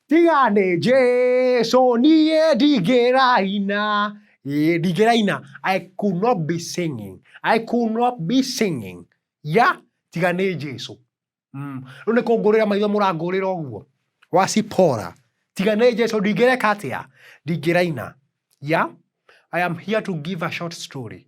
tiga nĩ Jesu niĩ ndingĩraina ĩĩ ndingĩraina I could not be singing I could not be singing ya tiga nĩ Jesu mm. rĩu nĩ kũngũrĩra maitho mũrangũrĩra ũguo wacipora tiga nĩ Jesu ndingĩreka atĩa ndingĩraina ya I am here to give a short story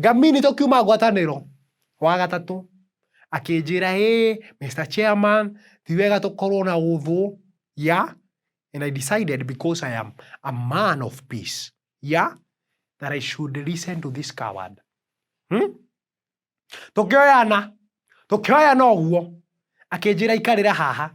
ngamini tokiuma ngwatanĩro wa gatatũ akĩnjĩra hey, Mr. Chairman ti wega tũkorwo na ũthũ yeah? and I decided because I am a man of peace yeah? that I should listen to this coward hmm? tũkĩoyana tũkĩoyana ũguo akĩnjĩra ikarĩra haha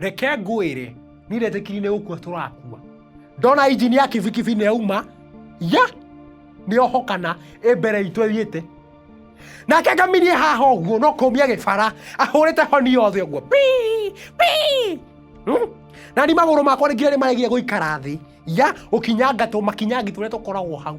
reke ngwĩre niĩ ndetĩkiri nĩ gũkua tũrakua ndona injini ya kibikibi nĩ yauma ya nĩ ohokana ĩ mbere itũ ĩthiĩte nake ngamirie haha ũguo no kũmia gĩbara ahũrĩte honi yothe ũguo pi pi Hmm? na ni magũrũ makwa nĩ nginya nĩ maregia gũikara thĩ ya gũkinyanga tũ makinyangĩ tũrĩa tũkoragwo hau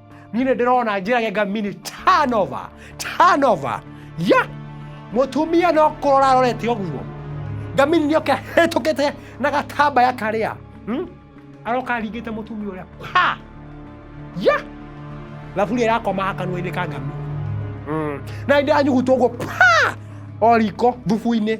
niĩ nĩ ndĩrona njĩragenga mini tanova tanova ya mũtumia no kũrora arorete ũguo ngamini nĩ oke hĩtũkĩte na gatambaya karĩa hmm? aroka aringĩte mũtumia ũrĩa pa ya thaburia ĩrakomaga kanua-inĩ ka ngami na nĩ ndĩranyugutwo ũguo pa o riko thubu-inĩ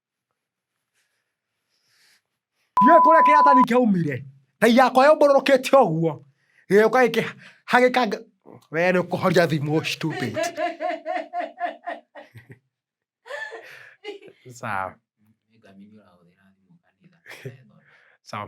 Ndiũĩ kũrĩa kĩratani kĩaumire, Ngai yakwa yũmbũrũrũkĩte ũguo, gĩgĩũka gĩkĩhagĩka nga, we nĩ ũkũhoria thimũ stupid. Sawa. Nĩngamenya ũrahũthĩra thimũ kanitha. Sawa.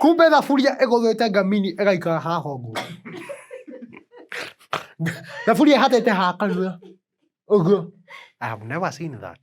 kumbe thaburia ĩgũthĩte ngamini ĩgaikara ha hongo thaburia ĩhatĩte ha kanua ũguo I have never seen that